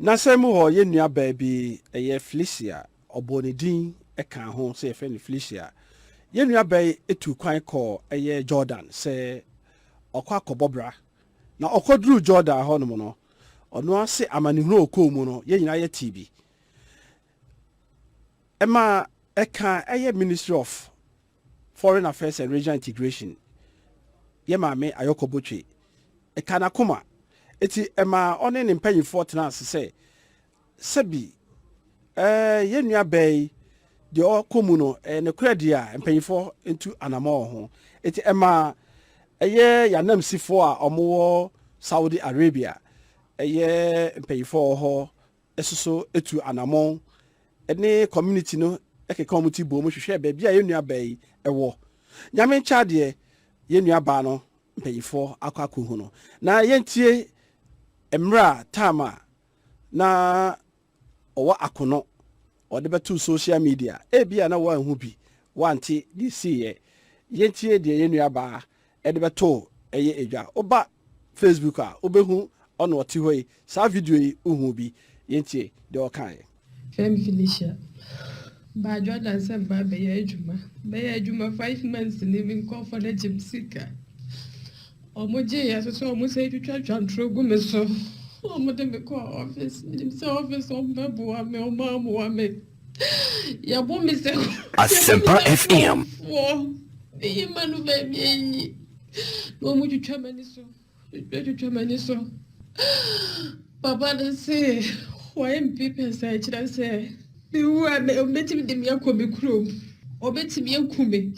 N'asɛm mu hɔ, yɛn nuabaa bi, ɛyɛ Felicia, ɔbɔɔ ne din kaa ho sɛ yɛfrɛ no Felicia. Yɛn nuabaa yi tuu kwan kɔɔ ɛyɛ Jordan sɛ ɔkɔ akɔbɔ bra, na ɔkɔduruu Jordan hɔnom no, ɔno ara se amanehunu a ɔkɔɔ mu no, yɛn nyinaa yɛtee bi. Ɛma ɛkaa ɛyɛ Ministry of. Foreign Affairs and Regional Integration yɛ Maame Ayɔkɔ Botwe. Ɛkaa n'akoma, enti ɛmaa ɔne ne mpanimfoɔ tenaa ase sɛ, Sɛbi, eh, yɛn nua baa yi, deɛ ɔrekɔ mu no, ɛyɛ nokorɛ deɛ a, mpanimfoɔ ntu anammɔn wɔ ho. Enti ɛmaa ɛyɛ yɛn ananmusifoɔ a wɔwɔ Saudi Arabia, ɛyɛ mpanimfoɔ a wɔwɔ hɔ soso tu anammɔn ne community no keka wɔn ti boom hwehwɛ baabi a yɛn nuabaa yi wɔ. Nyame nkyɛ adeɛ, yɛn nuabaa no mpanyinfoɔ akɔ akɔhu no. Na yɛntie mmerɛ a time a na ɔwɔ akono ɔde bɛtoo social media. Ebia na woanhu bi, woante deɛ ɛsiiɛ. Yɛntie deɛ yɛn nuabaa de bɛtoo ɛyɛ edwa woba Facebook a wobɛhu ɔna ɔte hɔ yi saa video yi wohuu bi yɛntie deɛ ɔkaeɛ. Fem Felicia baadwo adansɛm baa bɛyɛ adwuma bɛyɛ adwuma five months ni me nkɔɔfoɔ no agye me sika ɔmo gye yɛ so sɛ ɔmo sɛ twitwa twantoro gu me so ɔmo de me kɔɔ office menim sɛ office ɔmo bɛboa me ɔmo amoa me. Yɛbɔ me sɛ Asempa FM. Meyi ma no baabi ayi. Na wɔn twitwa m'ani so. Twitwa twitwa m'ani so. Papa no se wɔyɛ mpepe nsa kyerɛ sɛ mewu a ɔbɛtumi de me akɔ me kurom. Ɔbɛtumi aku me.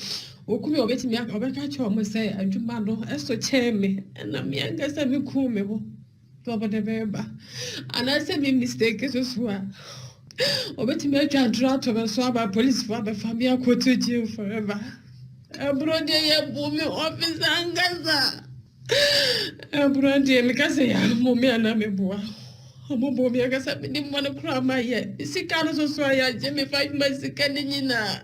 Ɔku me ɔbɛtumi ɔbɛka kyerɛ wɔn sɛ adwuma no ɛso kyɛn me. Ɛna me ankasa me ku me ho. sɛ wɔde me reba anaasɛ me mistake so so a wɔbɛtumi atwa ntorɔ ato me so ama polisifo abɛfa me akɔto jail forever ɛborɔ deɛ yɛbu me ɔfisa ankasa ɛborɔ deɛ meka sɛ yɛammɔ me anaa meboa ɔmɔbɔ me ankasa mede mmɔ no koraa ma yɛ sika no so so a yɛagye me five months sika no nyinaa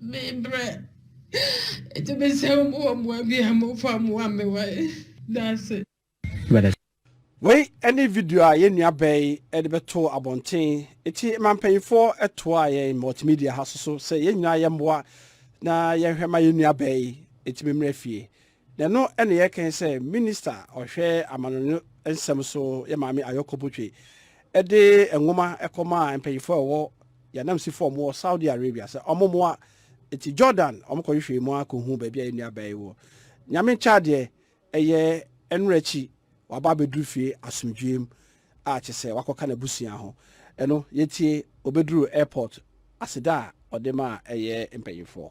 Me brɛ ɛti me sɛ ɔmo wɔ mmoa bi a mo fa mmoa mmewa yi daase. Wei ne video a yɛn nua bɛɛ yi de bɛtoo abɔnten nti ma mpanyinfoɔ toa yɛn multimedia ha so so sɛ yɛn nyinaa yɛmmoa na yɛnhwɛ ma yɛn nua bɛɛ yi ɛtumi mmra fie Na ɛno na yɛkae sɛ Minista a ɔhwɛ amanɔne nsɛm so yɛ Maame Ayɔkɔ Botwe de nwoma kɔmaa mpanyimfo a wɔwɔ yɛn ananmusifo a wɔwɔ Saudi Arabia sɛ wɔmmoa. Enti Jordan, wɔkɔhwehwɛɛ mu ara kohuu baabi a yɛn nuabaa yi wɔ. Nyame nkyɛ adeɛ, ɛyɛ nnora akyi, waba abɛduru fie asomdwoe mu a kyerɛ sɛ wakɔka n'abusua ho. Ɛno, yɛntie, obeduruu airport, aseda a ɔde maa ɛyɛ mpanyimfoɔ.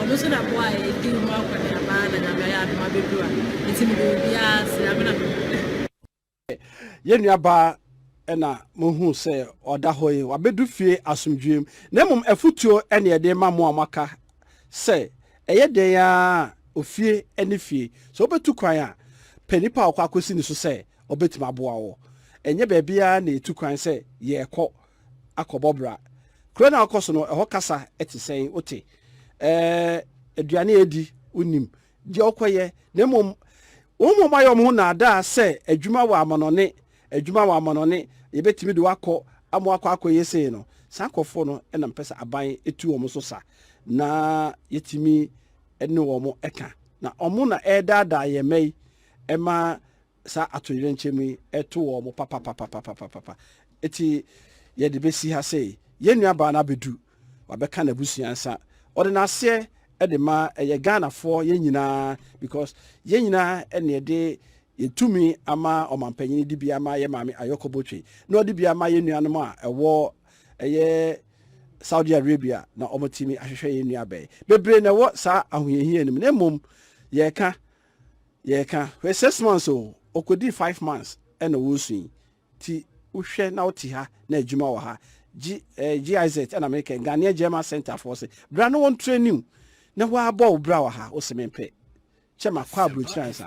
Ɔno so na boa a yɛdi ho akɔneaba na Nyame ayɛ adom abɛduru a nti mede obiara ase, ame na mewɔ. Yɛn nua baa na mohu sɛ ɔda hɔ yi, wabɛdu fie asomdwoeɛ mu. Na mmom afutuo ne yɛde rema mo a moaka sɛ ɛyɛ dɛn ara a, ofie ne fie, sɛ wobɛtu kwan a, pɛ nipa a wokɔ akɔsi ne so sɛ ɔbɛtumi aboa wo. Ɛnyɛ baabiara na yɛtu kwan sɛ yɛrekɔ. akɔbɔ bra. Kuro no a wokɔ so no, ɛhɔ kasa te sɛn? Wote? Ɛɛ, aduane a edi, wonnim. Deɛ wokɔyɛ, na mmom wɔn a wɔayɛ wɔn ho nnaadaa sɛ adwuma wɔ amanɔne, adwuma wɔ amanɔne, yɛbɛtumi de wo akɔ ama woakɔ akɔyɛ sei no, saa nkurɔfoɔ no na mepɛ sɛ aban tu wɔn so sa, na yɛtumi ne wɔn ka. Na wɔn na ɛredaadaa yɛn mma yi ma saa atoyerɛnkyɛm yi to wɔn papapapapapapa. Enti yɛde bɛsi ha sɛ yɛn nuabaa no abɛdu, wabɛka n'abusua nsa. Ɔde n'aseɛ de ma ɛyɛ Ghanafoɔ yɛn nyinaa because yɛn nyinaa na yɛde yɛn tumi ama ɔmampanyini de bi ama yɛ maame Ayɔkɔ Botwe na ɔde bi ama yɛn nuanom a ɛwɔ ɛyɛ Saudi Arabia na wɔtumi ahwehwɛ yɛn nuabaa yi. Bebree na ɛwɔ saa ahohiahia no mu na mmom yɛreka Yɛka hwɛ six months o, ɔkɔdii five months ɛna wɔresu yi nti wohwɛ na wote ha na adwuma wɔ ha. G, eh, GIZ ɛna mekɛ Ghanaian German Center foɔ se bra na wɔn trainiw na woabɔ wo bra wɔ ha wose mempɛ kyɛ makɔ aburokyiri ansa.